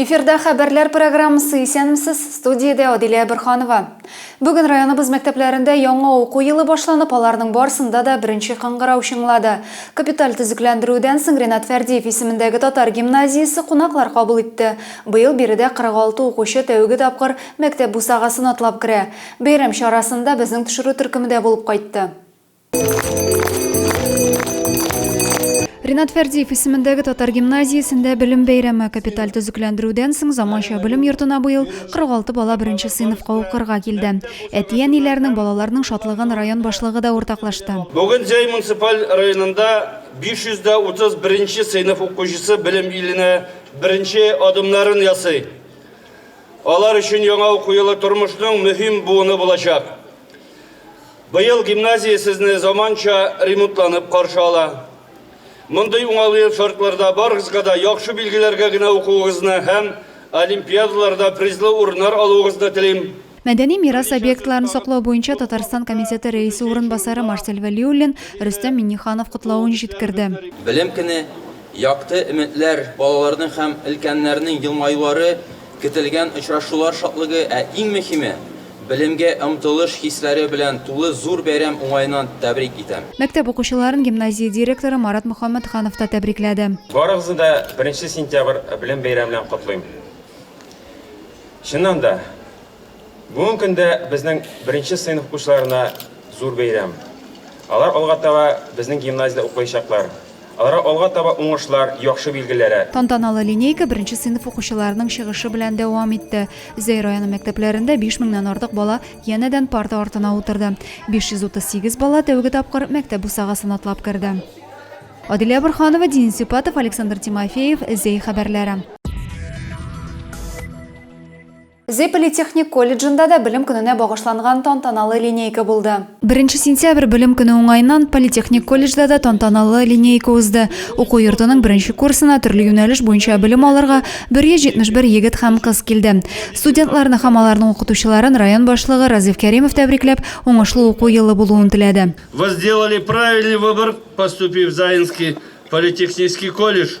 Эфирда хәбәрләр программасы Исәнмесез, студиядә Адилә Әберханова. Бүген районыбыз мәктәпләрендә яңа уку елы башланып, аларның барсында да беренче кыңгырау чыңлады. Капиталь төзекләндерүдән соң Ренат Фәрдиев исемендәге татар гимназиясе кунаклар кабул итте. Быел биредә 46 укучы тәүге тапкыр мәктәп бусагасын атлап керә. Бәйрәм чарасында безнең төшерү төркеме дә булып кайтты. Ринат Фәрдиев исемендәге татар гимназиясендә белем бәйрәме капиталь төзекләндерүдән соң заманча белем йортына быел 46 бала беренче сыйныфка укырга килде. Әти-әниләрнең, балаларның шатлыгын район башлыгы да уртаклашты. Бүген Зәй муниципаль районында 531 нче сыйныф укучысы белем иленә беренче адымнарын ясый. Алар өчен яңа уку елы тормышның мөһим буыны булачак. Быел гимназия сезне заманча ремонтланып каршы ала. Мондый уңайлы шартларда барыгызга да яхшы билгеләргә генә укуыгызны һәм олимпиадаларда призлы урыннар алуыгызны телим. Мәдәни мирас объектларын саклау буенча Татарстан комитеты рәисе урынбасары Марсель Вәлиуллин Рөстәм Миңнеханов котлавын җиткерде. Белем көне, якты өметләр, балаларның һәм өлкәннәрнең елмаюлары Көтелгән очрашулар шатлыгы, ә иң мөһиме, белемгә омтылыш хисләре белән тулы зур бәйрәм уңаеннан тәбрик итәм. Мәктәп укучыларын гимназия директоры Марат Мөхәммәтханов та тәбрикләде. Барыгызны да беренче сентябрь белем бәйрәме белән котлыйм. Чыннан да. Бүгенге көндә безнең беренче сыйныф укучыларына зур бәйрәм. Алар алга таба безнең гимназиядә укыячаклар. Аларга алга таба уңышлар, яхшы билгеләре. Тантаналы линейка беренче сыйныф укучыларының чыгышы белән дәвам итте. Зәй районы мәктәпләрендә биш меңнән артык бала янәдән парта артына утырды. 538 бала тәүге тапкыр мәктәп бусагасын атлап керде. Адилә Борһанова, Денис Сюпатов, Александр Тимофеев, Зәй хәбәрләре. Зепели техник колледжында да Белем көненә багышланган тантаналы линейка булды. Беренче сентябрь Белем көне уңаеннан политехник колледжда да тантаналы линейка узды. Уку йортының беренче курсына төрле юнәлеш буенча белем алырга 171 егет һәм кыз килде. Студентларны һәм аларның укытучыларын район башлыгы Разиф Кәримов тәбрикләп, уңышлы уку елы булуын теләде. Вы сделали правильный выбор, поступив в Заинский политехнический колледж.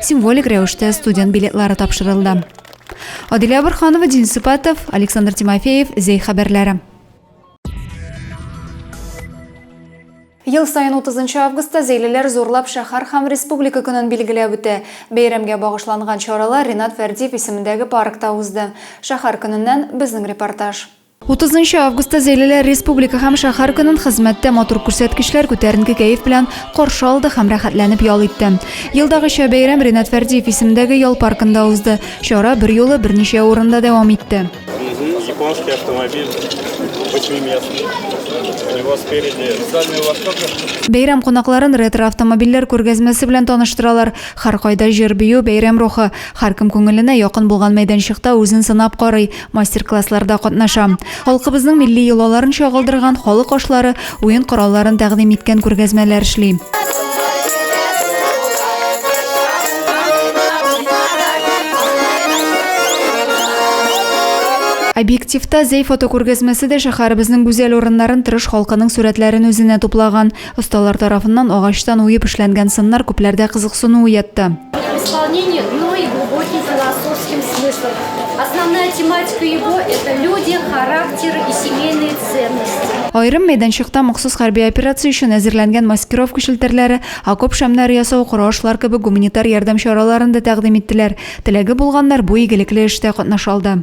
символик рәвештә студент билетлары тапшырылды. Адилә Абырханова, Дин Сыпатов, Александр Тимофеев, Зәй хәбәрләре. Ел сайын 30 августта зәйлеләр зурлап шәһәр һәм республика көнен билгеләп үтә. Бәйрәмгә багышланган чаралар Ринат Фәрдиев исемендәге паркта узды. Шәһәр көненнән безнең репортаж. 30 августта Зәйлеләр республика һәм шәһәр көнен хезмәттә матур күрсәткечләр күтәренке кәеф белән каршы алды һәм рәхәтләнеп ял итте. Елдагыча бәйрәм Ренат Фәрдиев исемендәге ял паркында узды. Чара бер юлы берничә урында дәвам итте. Японский автомобиль восьмиместный. У него спереди специальный ласток. Бәйрәм кунакларын ретро автомобильләр күргәзмәсе белән таныштыралар. Һәркайда җыр-бию, бәйрәм рухы. Һәркем күңеленә якын булган мәйданчыкта үзен сынап карый. мастер-классларда катнаша. Халкыбызның милли йолаларын чагылдырган халык ашлары, уен коралларын тәкъдим иткән күргәзмәләр эшли. Объективта Зәй фотокүргәзмәсе дә шәһәребезнең гүзәл урыннарын тырыш халкының сурәтләрен үзенә туплаган. Осталар тарафыннан агачтан уеп эшләнгән сыннар күпләрдә кызыксыну уятты. Исполнение, но и глубокий философский смысл. Основная тематика его – это люди, характеры и семейные ценности. Айрым мәйданчыкта махсус хәрби операция өчен әзерләнгән маскировка челтәрләре, окоп шәмнәре ясау, коры ашлар кебек гуманитар ярдәм чараларын да тәкъдим иттеләр. Теләге булганнар бу игелекле эштә катнаша алды.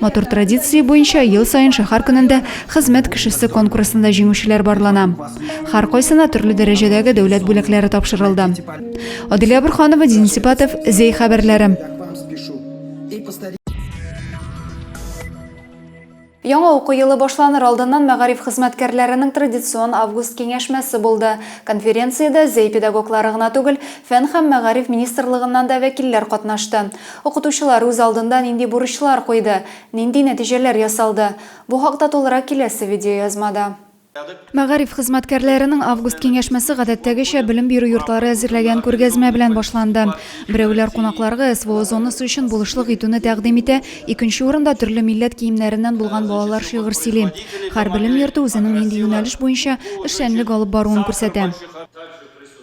Матур традиция буенча ел саен шәһәр көнендә хезмәт кешесе конкурсында җиңүчеләр барлана. Һәркайсына төрле дәрәҗәдәге дәүләт бүләкләре тапшырылды. Адилә Бурханова, Дин Сипатов, Зей хәбәрләре. Яңа уку елы башланыр алдыннан мәгариф хезмәткәрләренең традицион август киңәшмәсе булды. Конференциядә зәй педагоглары гына түгел, фән һәм мәгариф министрлыгыннан да вәкилләр катнашты. Укытучылар үз алдында нинди бурычлар куйды, нинди нәтиҗәләр ясалды? Бу хакта тулырак киләсе видеоязмада. Мәгариф хезмәткәрләренең август киңәшмәсе гадәттәгечә белем бирү йортлары әзерләгән күргәзмә белән башланды. Берәүләр кунакларга СВО зонасы өчен булышлык итүне тәкъдим итә, икенче урында төрле милләт киемнәреннән булган балалар шигырь сөйли. Һәр белем йорты үзенең нинди юнәлеш буенча эшчәнлек алып баруын күрсәтә.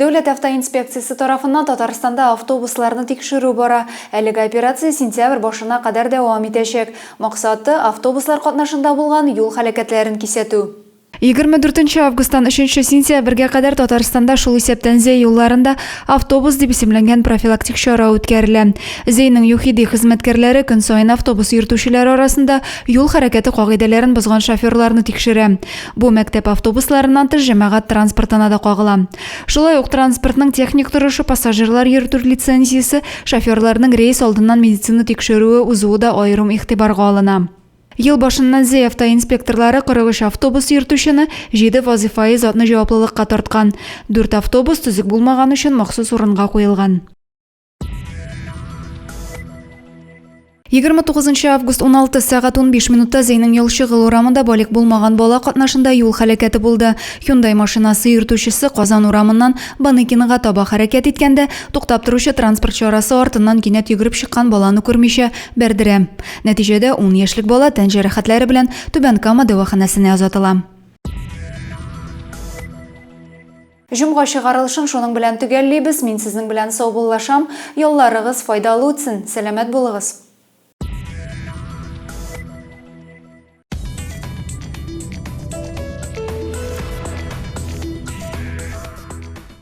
Дәүләт автоинспекциясе тарафыннан Татарстанда автобусларны тикшерү бара. Әлеге операция сентябрь башына кадәр дәвам итәчәк. Максаты, автобуслар катнашында булган юл һәлакәтләрен кисәтү. 24 нче августтан 3 нче сентябрьгә кадәр Татарстанда, шул исәптән Зәй юлларында автобус дип исемләнгән профилактик чара үткәрелә. Зәйнең ЮХИДИ хезмәткәрләре көн саен автобус йөртүчеләр арасында юл хәрәкәте кагыйдәләрен бозган шоферларны тикшерә. Бу мәктәп автобусларыннан тыш җәмәгать транспортына да кагыла. Шулай ук транспортның техник торышы, пассажирлар йөртү лицензиясе, шоферларның рейс алдыннан медицина тикшерүе узуы да аерым игътибарга алына. Ел башыннан Зәй автоинспекторлары 43 автобус йөртүчене, 7 вазыйфаи затны җаваплылыкка тарткан. Дүрт автобус төзек булмаган өчен махсус урынга куелган. Егерме тугызынчы август 16 сәгать 15 минутта Зәйнең Ялчыгыл урамында балик булмаган бала катнашында юл хәләкәте булды. Hyundai машинасы йөртүчесе Казан урамыннан Баныкиныга таба хәрәкәт иткәндә, туктап торучы транспорт чарасы артыннан кинәт йөгереп чыккан баланы күрмичә бәрдерә. Нәтиҗәдә 10 яшьлек бала тән җәрәхәтләре белән Түбән Кама дәваханәсенә озатыла. Җомга чыгарылышын шуның белән төгәллибез, мин сезнең белән саубуллашам, ялларыгыз файдалы үтсен, сәламәт булыгыз.